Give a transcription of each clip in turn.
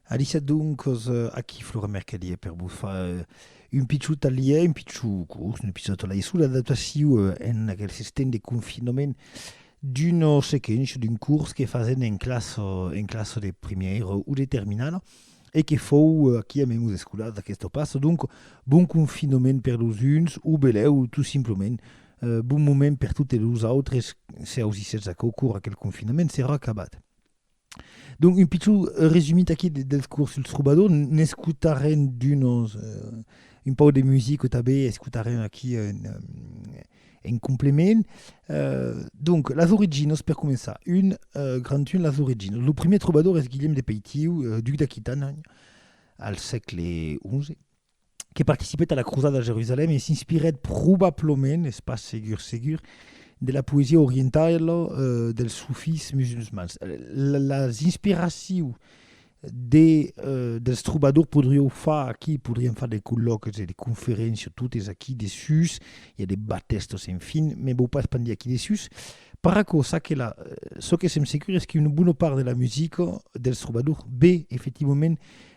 Alícia Doncos, aquí Flora Mercadier per vos far un pichon talièr, un pichon curs, un episòd talièr sus l'adaptacion en aquel sistèm de confinament d'un sequench, d'un curs que fasèm en classa, en classa de primièra o de terminala e que fòu aquí a Mèmos Escolars d'aquesta plaça. Donc, bon confinament per los uns o belèu tot simplament bon moment per totes los autres se ausissètz aquò cor aquel confinament serà acabat. Donc, un pichon resumit aquí dels curs sul trobador, n'escotarem d'unos euh, un pau de musica tanben escotarem aquí en, en complement. Euh, donc, las originas, per començar, un euh, grand un, las originas. Lo primer trobador es Guillem de Peitiu, euh, duc d'Aquitània, al sègle XI. que participèt a la crosada de Jerusalèm e s'inspirèt probablament, es pas segur segur, de la poesia orientala dels sufís musulmans. Las inspiracions de, dels trobadors podrieu far aquí, podriam far de colloques e de conferéncias totes aquí dessús, i a de batèstos, enfin, me vau pas pendir aquí dessús. Per aquò, ça que la, çò que sèm segur es qu'una bona part de la musica dels trobadors ve efectivament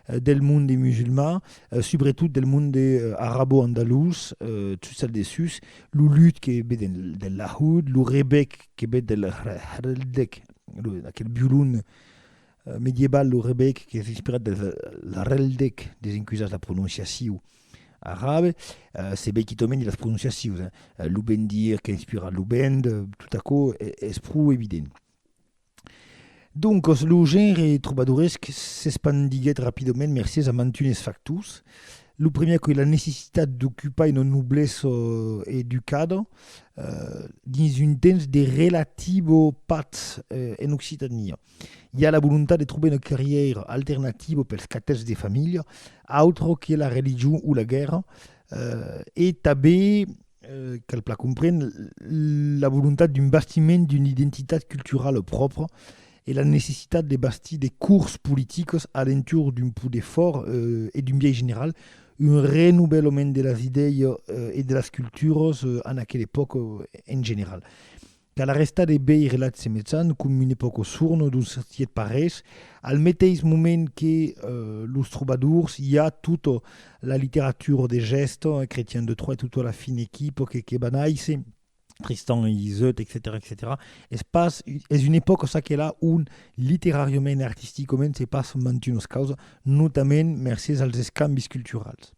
del monde musulman, subretot del monde arabo-andalús, sus al dessús, lo lud que ve del lahud, lo rebec que ve del hrdec, aquel violon medieval, lo rebec qu'es inspirat del hrdec, desencusatz la prononciacion arabe, se vei quitament de las prononciacions, lo bendir qu'es inspirat lo bend, tot aquò es pro evident. Doncas, lo genre trobadoresc s'espandiguèt rapidament mercés a mantunes factors. Lo premier qu'ei la necessitat d'ocupar una noblesa educada dins un temps de relativa patz en Occitània. I a la volontat de trobar una carrièra alternativa pels catèths de familha, autra que la religion o la guèrra, e tanben Cal plan comprendre la volontat d'un bastiment d'una identitat culturala pròpra e la necessitat de bastir de cors politicos a l'entorn d'un poder fòrt e d'un biais general, un renovelament de las idèias e de las culturas en aquela epòca en general. Cal arrestar de veire la semeçan com une pauca sorno d'un certiet parés, al meteis moment que los trobadors i a tota la literatura de gèst, Chretian de Troyes, tota la fine equipa que que banaisse, Tristan e Iseut, etcetèra, etcetèra Es pas, es una epòca çaquelà ont literàriament e artisticament se passe mantunas causas, notament mercés als escambis culturals.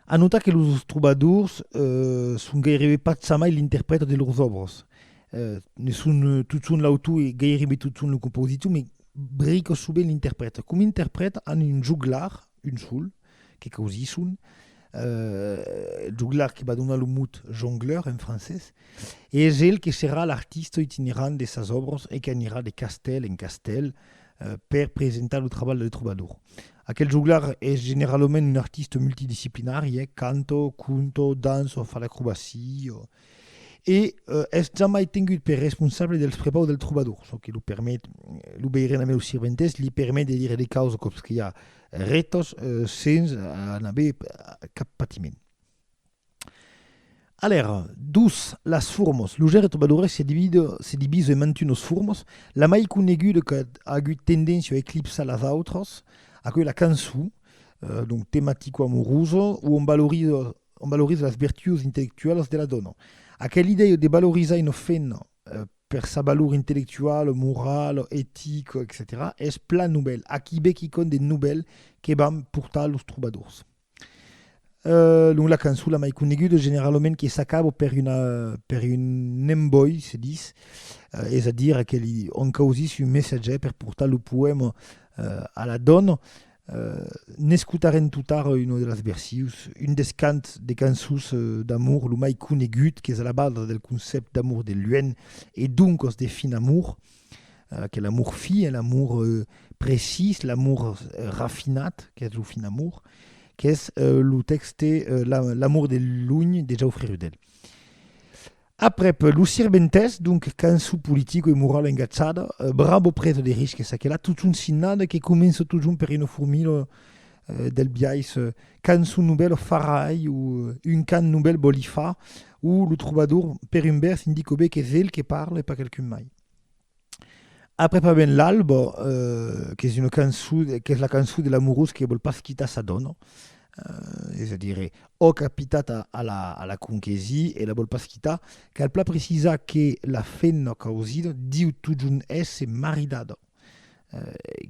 A notar que los trobadors son gairebe pas jamai l'interprèta de lors òbras. Ne son totjorn l'autor e gairebe totjorn lo compositor, mas brica sovent l'interprèta. Coma interprèta an un joglar, un sol, que causisson, joglar que va donar lo mot jongleur en francés, e es el que serà l'artista itinerant de sas òbras e qu'anirà de castèl en castèl per presentar lo trabalh del trobador. Aquel joglar es generalament un artista multidisciplinari, eh? canto, conto, danço, fa l'acrobacia, e es jamai tengut per responsable dels prepaus del trobador, çò que lo permet, lo veirem damb eus sirventes, li permet de dire de causas còps que i a retas sens n'aver cap patiment. Alèr, dus las formos. Lo genre Trobadores se divide se divise en mantunos formos. La mai coneguda qu'a agut tendéncia a eclipsar las autras, aquò es la cançon, donc tematico-amorosa, o on valoriza on valoriza las vertuos intellectualas de la dòna. Aquela idèia de valorizar una femna per sa valor intellectuala, morala, etica, etcetèra es plan novèl. Aquí be quicòm de novèl que van portar los Trobadors. Euh, donc la cançon la mai coneguda generalament que s'acaba per, una, per un emboi, se dis, eh, és a dire que li on causís un messatge per portar lo poema eh, a la dona. Eh, n'escutarem tot ara una de las versius, un des cants de cançons eh, d'amor lo mai conegut, qu'es a la basa del concept d'amor de luènh e doncas de fin amor, que l'amor fi un amor precís, l'amor rafinat, qu'es lo fin amor, qu'es lo texte L'amor de luny de Jaufre Rudel. Aprep Lo Sirventès, donc cançon politico e morala engatjada, bravo preso de risques aquela, totjorn signada, que comença totjorn per una formula del biais cançon novèl o farai o un cant novèl vòli far o lo trobador per un vers indica ben qu'es el que parla e pas quelqu'un mai. Après pas ben l'alba, eh, qu'es una cançon, qu'es la cançon de l'amorós que vòl pas quitar sa dòna, eh, es a dire, òc a pitat a, a la, a la conquesir e la vòl pas quitar, cal plan precisar que la femna causida diu totjorn èsser maridada.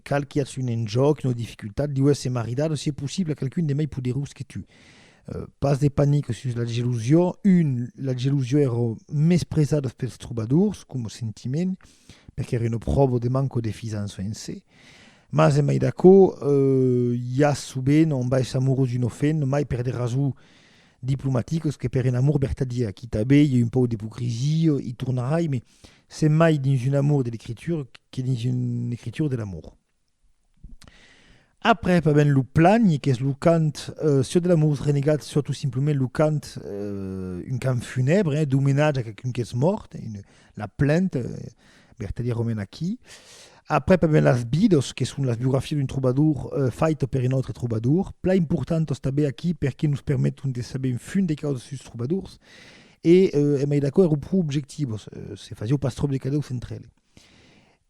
Cal qu'i aths un enjòc, una dificultat, diu èsser maridada, si es possible, a qualqu'un de mai poderós que tu. Pas de panic sus la gelosia. Un, la gelosia èra mespresada pels trobadors coma sentiment, perque èra una pròva de manca de fisança en se. Mas en mai d'aquò, i a sovent un baish amorós d'un ofent, mai per de rasons diplomaticas que per un amor vertadièr. Quità be i a un pauc d'ipocrisia, i tornarai, mes Se mai dins un amor de l'ecritura que dins un ecritura de l'amor. Après pas ben lo plany, qu'es lo cant euh, siò de l'amor renegat, siò tout simplement lo cant, euh, un cant funèbre, eh, d'homenatge a qualqu'un qu'es mòrt, une, la plainte, euh, Bertalier Romain aquí. Après pas ben las bidos, que son las biografias d'un trobador euh, faito per un autre trobador, pla importantos tanben aquí perque nos permeton de saber un fum de causas sus trobadors, E, e mai d'aquò, èro pro objectivo, se fasiáu pas tròp de cadèus entre eles.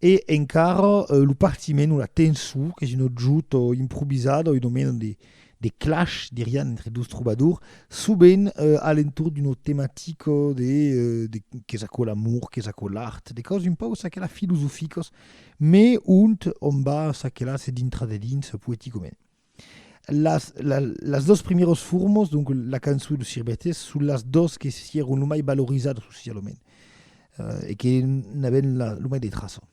E encara lo partiment o la tensor, qu'es un objut improvisat o un moment de, de clash, dirián, entre dos trobadors, sovent a l'entorn d'una tematica de, de qu'es aquò l'amor, qu'es aquò l'art, de causes un pauc ça que là filosoficas, mai ont on va ça que là se dintra de dins poeticament. Las, la, las dos primeros formos, donc la cançon e lo sirbetes, son las dos que sièron lo mai valorisadas socialament eh, e que n'avèn la, lo mai de traçon.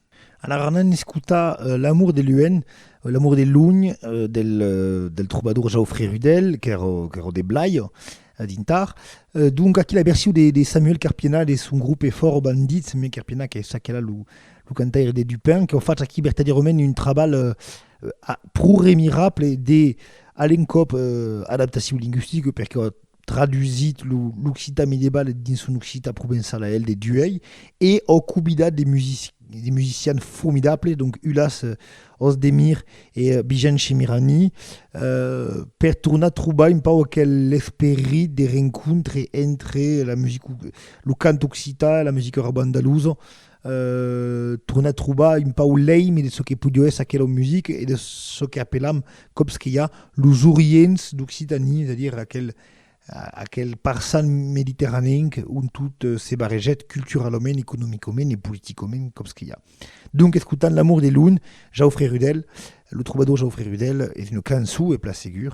An aranés escutar eh, L'amour de luènh, eh, L'amour de lunh, eh, del, eh, del trobador Jaufré Rudel, qu'èra, qu'èra de Blai, eh, dintar. Eh, donc aquí la version de, de Samuel Carpienat de son grupe Fòrt Bandit, Samuel Carpienat qu'es aquela lo, lo cantaire de Dupin, qu'au fach aquí vertadièrament un trabalh eh, pro remirable de, a l'encòp, adaptacion lingüistica, perque a tradusit lo l'occitan medieval dins son occitan provençal a el de Duhèi, e au cobidat de de musicians formidables, donc Ulas Ozdemir e Bijan Shemirani, per tornar trobar un pauc aquel esperit de rencontre entre la musica, lo cant occitan e la musica roba andalusa, tornar trobar un pau l'èime de çò que podió èsser aquela musica e de çò qu'apelam còps que i a los orients d'Occitanie, es a dire aquel, aquel parçan mediterranenc ont tot se barrejèt culturalament, economicament e politicament còps que i a. Donc escotant L'amour de l'un, Jaufré Rudel, lo trobador Jaufré Rudel, es una cançon, es plan segur,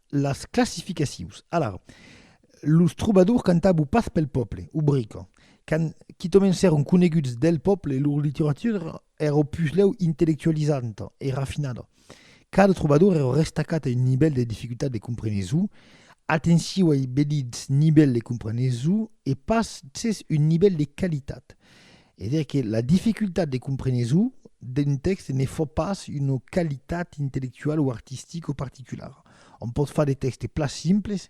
Las classificacions. Alara, los trobadors cantabu pas pel pòple, obrico. Quand quitòmen s'èron coneguts del pòple, lor literatura èra puslèu intellectualizanta e rafinada. Cada trobador èra restacat a un nivèl de dificultat de comprenesu. Atenciu ai be dits nivèl de comprenesu e pas cés un nivèl de qualitat. E dire que la dificultat de compreneso d'un tèxte ne fa pas una qualitat intellectuala o artistica particulara. Òm pòt far de tèxtes plan simples,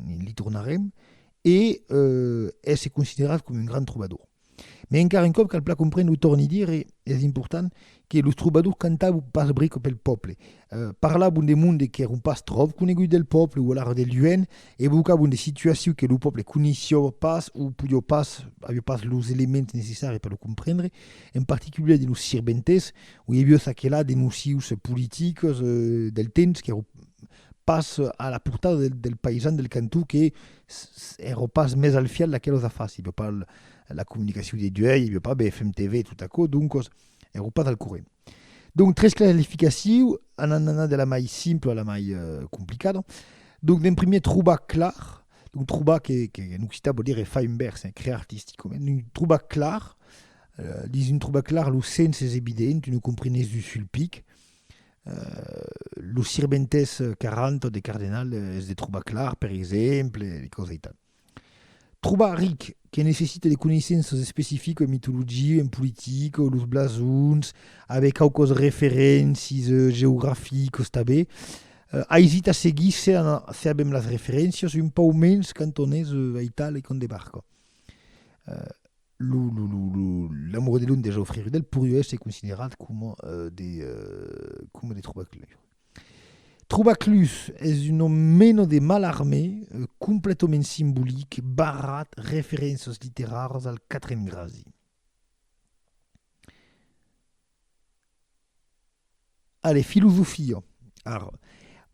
li tornarem, e èsser considerat coma un grand trobador. Mai encara un còp cal plan comprendre, o torni dire, es important, que los trobadors cantavan pas bric pel pòble, parlavan de monde qu'èron pas tròp coneguts del pòble o alara de luenh, evocavan de situacions que lo pòble coneishiava pas o podiava pas, aviá pas los elements necessari per lo comprendre, en particulièr de los sirventes, o i aviá ça que là de nocius politicas del temps qu'èron pas a la portada del del païsan del cantó que èra pas mès al fièlh d'aquelas afars, i aviá pas la comunicacion de duèi, i aviá pas BFM TV e tot aquò, doncas, e ro pas al corrent. Donc, tres clarificaciu, anant anar de la mai simpla a la mai euh, complicada. Donc, d'en primier, trobar clar, donc trobar que, que en occitan vau dire far un vers, eh, crear artisticament, donc trobar clar, euh, dins un trobar clar, lo sens es evident, tu ne comprenés du sulpic, euh, lo sirventès 40 de Cardenal es de trobar clar, per exemple, e cosas aital. Trobar ric, que necessite de coneissenças especifiques en mitologia, en politica, los blasons, aver quauquas referéncies geograficas tanben. Aisit a seguir se avèm las referéncias, un pauc mens quand on es a Italia e qu'on debarca. Lo lo lo lo la Morue de Londres o Fréjus del Porieu es considerat coma de coma de trobar Trobaclus es un nom mena de Mallarmé completament simbolic barrat referénças literàras al quatrem gradi. Allez, filosofia ara.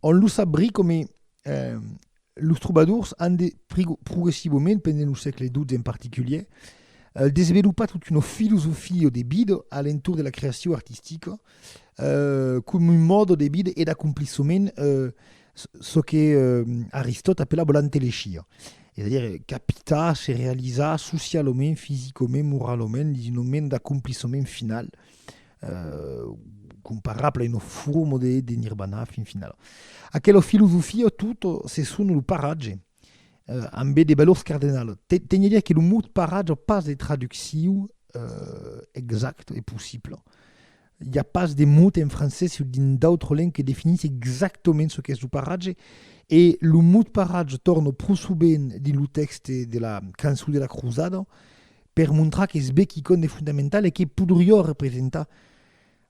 On lo sabrí coma Los trobadors an de progressivament, pendent lo sègle XII en particulier, euh, desvelopat tota una filosofia de vida a l'entorn de la creacion artistica, euh, com un mòde de vida e d'acomplissement, euh, çò que euh, Aristòt apelava l'antelegia. Es a dire, capitar, se realizar socialament, fisicament, moralament, dins un moment d'acomplissement final. comparable a una forma de, de nirvana, fin final. Aquela filosofia, tot, se son lo paratge, eh, ambé de valors cardenal. Teni a dire que lo mot paratge a pas de traducciu eh, exact e possible. Hi a pas de mot en francés o dins d'autres lengues que definís exactament ce qu'es lo paratge, e lo mot paratge torna pro sovent dins lo tèxte de la cançon de la crosada, per montrar qu'es be quicòm de fondamental e que podrió representar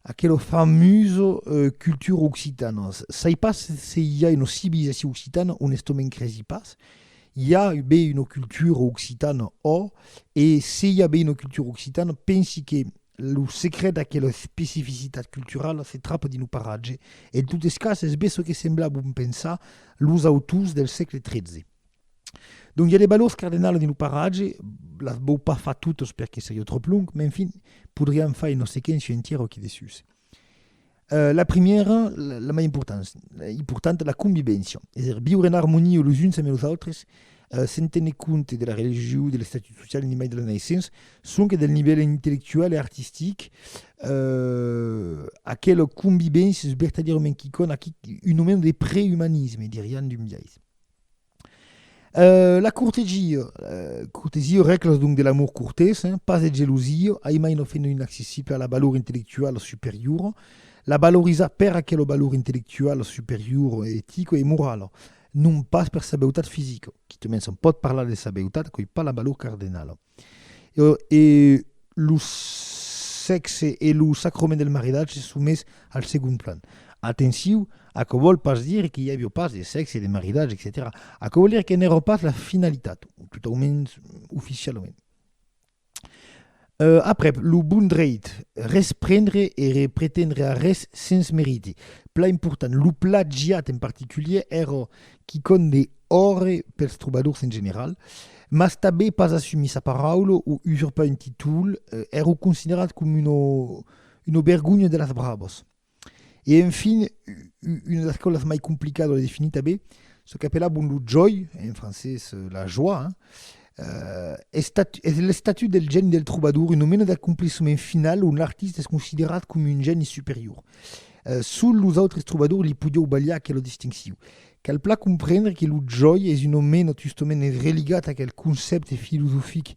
aquela famusa cultura occitana. Sai pas se i a una civilizacion occitana, onestament cresi pas. I a be una cultura occitana, ò, e se i a be una cultura occitana, pensi que lo secret d'aquela especificitat culturala se trapa dins lo paratge. En totes cas, es be çò que semblabon pensar los autors del sègle XIII. Donc, i a de balors cardenals dins lo paratge, las vau pas far totes perque seria trop long, men fin, podriam far un osequent su entièr o qui de sus. Euh, la primièra, la mai importants, importanta, la convivència, es a dire viure en armonia los uns amb los autres, euh, sen téner compte de la religion, de l'estatut social, ni mai de la naissença, sonque del nivèl intellectual e artistic, euh, aquela convivència es vertadièrament quicòna, quic, un aument de preümanisme, dirián d'un biais. Euh, la cortesia, euh, cortesia, règlas donc de l'amor cortès, hein, pas de gelosia, ai mai no fenomen inaccessible a la valor intellectuala superiora, la valorizar per aquela valor intellectuala superiora, etica e morala, non pas per sa beutat fisica, quitament se'n pòt parlar de sa beutat, quai pas la valor cardenala. E lo sèxe e lo sacrament del maridatge son mes al segond plan. Atenciu, aquò vòl pas dire que i aviá pas de sèxe, de maridatge, etcetèra. Aquò vòl dire que n'èra pas la finalitat, totaumens oficialament. Aprèp, lo bon dreit, res prendre e re pretendre arrés sens meriti. Plan important, lo plagiat en particulièr èra quicòm de òrre pels trobadors en general, mas tabé pas assumir sa paraula o usurpar un títol èro considerat com una una bergonha de las bravas. E enfin, una das causas mai complicadas de definir tabé, çò qu'apelabon lo jòi, en francés la joie, es es l'estatut del geni del trobador, una mena d'acomplissement final ont l'artista es considerat com un geni superior. Sul los autres trobadors li podiou balhar aquela distincion. Cal plan comprendre que lo jòi es un omena tustomene religat a aquel concèpte filosofic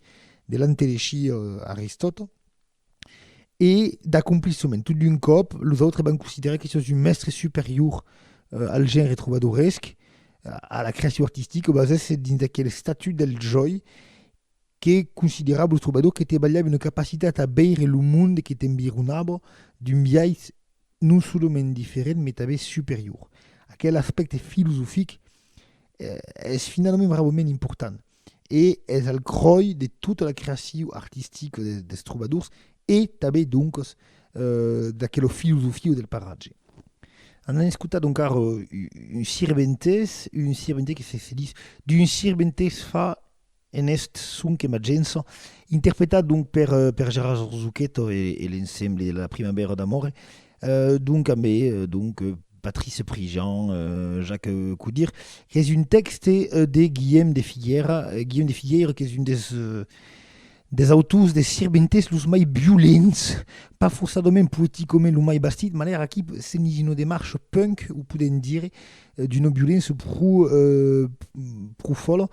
de l'antelechir Aristòt e d'acomplissement. Tot d'un còp, los autres van considerar que sos un mèstre superior al genre trobadoresc, a la creacion artistica, o basèsse dins aquel estatut del jòi que considerava los trobadors que trabalhavan una capacitat a veire lo monde que t'environava d'un biais non solament diferent mai tanben superior. Aquel aspècte filosofic es finalament bravament important e es al cròi de tota la creacion artistica dels trobadors e tanben doncas d'aquela filosofia del paratge. An an escotat donc ara un sirventès, un sirventès que se se ditz d'un sirventès fa En eth son que m'agença, interpretat donc per per Gérard Zucchetto e e l'ensemble de la Primavera d'amore, donc ambe donc Patrice Prigent, Jacques Coudire, qu'es un tèxte de Guillem de Figuera, Guillem de Figueira qu'es un des des autors des sirventes los mai violents, pas fossadament poeticament lo mai bastit, manèra aquí se n'i no demarche punk, o podem dire, d'una violença pro pro fòla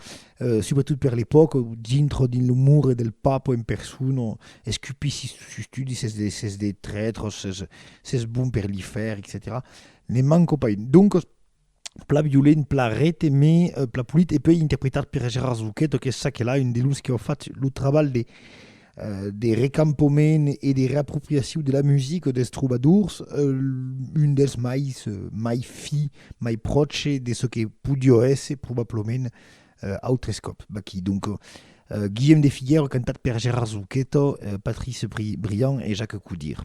subretot per l'epòca dintre dins lo mur del papa en persona escupir sis sustudi ses de ses de trètres ses ses bon per li fer etcetèra ne manco pas un doncas plan violent plan rete me plan polit e pei interpretat per Gérard Zouquet qu'es ça que la un de los que au fach lo trabalh de de recampament e de reapropriaciu de la musica des trobadors, un dels mai mai fi, mai pròche de çò que podió èsser probablament autres còps vaquí. Donc, Guillem de Figuèra cantat per Gérard Zuchetto, Patrice Briand e Jacques Coudire.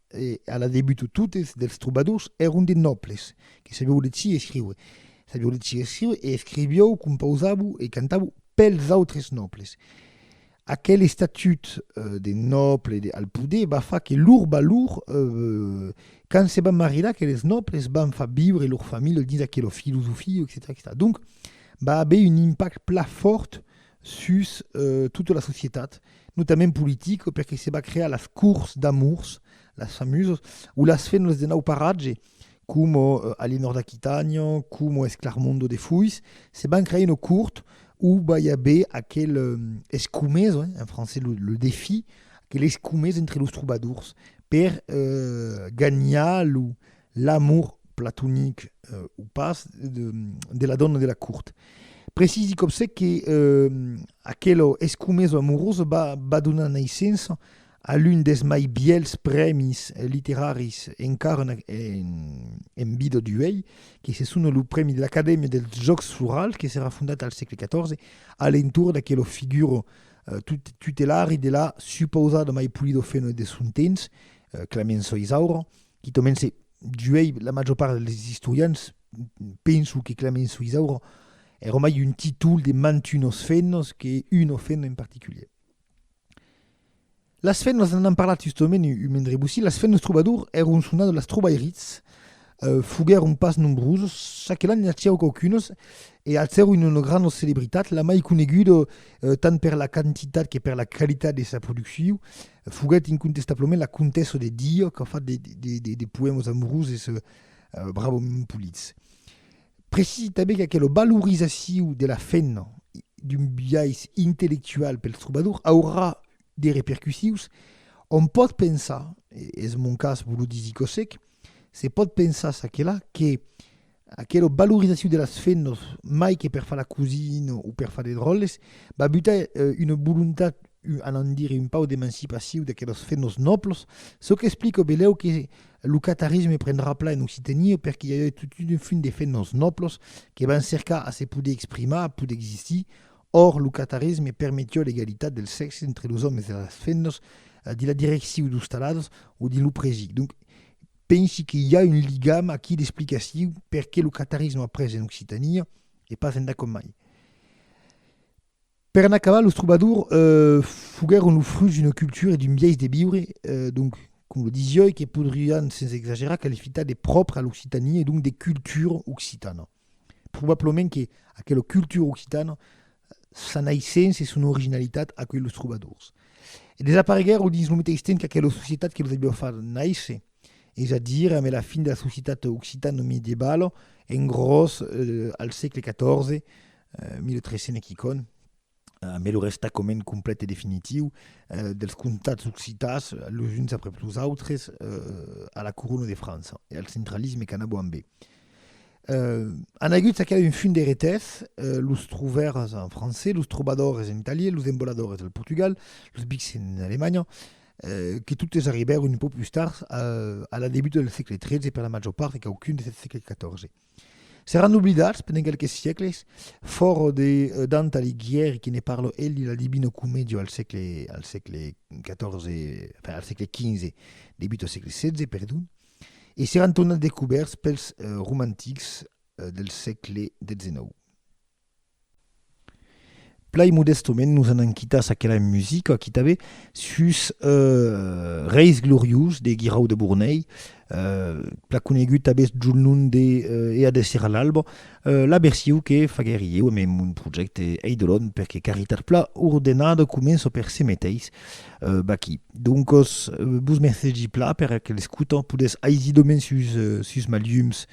E a la debut totes dels trobadors èron de nòbles que sabieu legir e escriure. Sabieu legir e escriure e escrivieu, compausavou e cantavou pels autres nòbles. Aquel estatut de nòble al poder va far que lor valor quand se van marilar aqueles nòbles van far viure lor familha dins aquela filosofia, etcetèra. Donc va aver un impact plan fòrt sus tota la societat, notament politica, perque se va crear las cours d'amours, las famosas, o las fenlas de nau paratge, coma a l'enòrd d'Aquitània, coma Esclarmondo de Foiss, se van crear una court o vai aver aquel escomés, en francés le défi, aquel escomés entre los trobadors per ganhar lo l'amor platonic o pas de la dòna de la cort. Precisi còp se que aquela escomesa amorosa va donar naissença a l'un dels mai bièlhs prèmis literaris encara en vida d'uèi, que se sona lo Prèmi de l'Acadèmia dels Jòcs Florals, que serà fondat al sègle xiv a l'entorn d'aquela figura tutelari de la supausada mai polida ofèna de son temps, Clemença Isaura, quitament se duei la major part dels istorians, penso que Clemens Suisauro era mai un títol de mantunos fennos que uno fenno en particulier. Las fennos, n'an an parlat justament un mendre bocí, las fennos trobadors eron sonado las trobairids, euh, foguèron pas nombrosos, çac que l'an n'acièro quauquunos, e alcèron una no granda celebritat, la mai coneguda, tant per la quantitat que per la qualitat de sa producciu, Foguèt incontestablament la comtessa de Diò qu'a fat de poèmas amoroses bravament polits. Precisi tanben qu'aquela valorizacion de la femna d'un biais intellectual pels trobadors aurà de repercussius. Òm pòt pensar, es mon cas, Volodí Zikosek, se pòt pensar çaquelà que Aquela valorizacion de las fennos, mai que per far la cosina o per far de dròlles, va butar una volontat, anam dire, un pauc d'emancipacion d'aquelos fennos nòbls, çò qu'explica belèu que lo catarisme prendrà plan en Occitania perque i a eu tot un fum de fennos nòbls que van cercar a se poder exprimar, a poder existir. Or, lo catarisme permetiá l'egalitat dels sèxes entre los òmes e las fennos dins la direccion d'ostaladas o dins lo prèsi. Donc, Pensi que i a un ligam aquí d'explicaciu perqué lo catarisme a pres en Occitania e pas endà com mai. Per en acabar, los trobadors foguèron lo frut d'una cultura e d'un biais de viure, donc, com lo disioi, que podrián sens exagerar qualifitar de pròpre a l'Occitania e donc de cultura occitana. Probablament que aquela cultura occitana, sa naissença e son originalitat acuelh los trobadors. E desapareguèron dins lo meteis temps qu'aquela societat que los aviá fach nàisser, es a dire ambe la fin de la societat occitano-medievala, en gròs al sègle 14, 1300 e quicònh. A mai lo restacament complet e definitiu dels comtats occitans los uns aprèp los autres a la corona de França e al centralisme qu'anabo ambe. An agut aquela un fum de retès, los trouvèrs en francés, los trobadores en italié, los emboladores al Portugal, los bics en Alemanha, que totes arribèron un pauc pus tard, a la debuta del sègle XIII e per la màger part de quauqu'un des del sègle XIV. Seràn oblidats pendent quelques siècles, fòra de Dante Alighieri que ne parla el dins la Divina Comedia al sègle al sègle XIV, enfin al sègle XV, debut al sègle XVI, perdon, e seràn tornats descubèrts pels romantics del sègle XIX. Plai modèstament nos anam quitàs aquela musica qui t'avè sus Reis gloriós de Guirau de Bornei, plan conegut tanben sd'un nom de Ea de Sira l'alba, la version que faguèri ieu en mon projècte Eidolon per que Caritat Pla Ordenada comença per se meteis vaquí. Doncas, vos mercegi pla per aquel escota, podètz aisidament sus, sus ma llums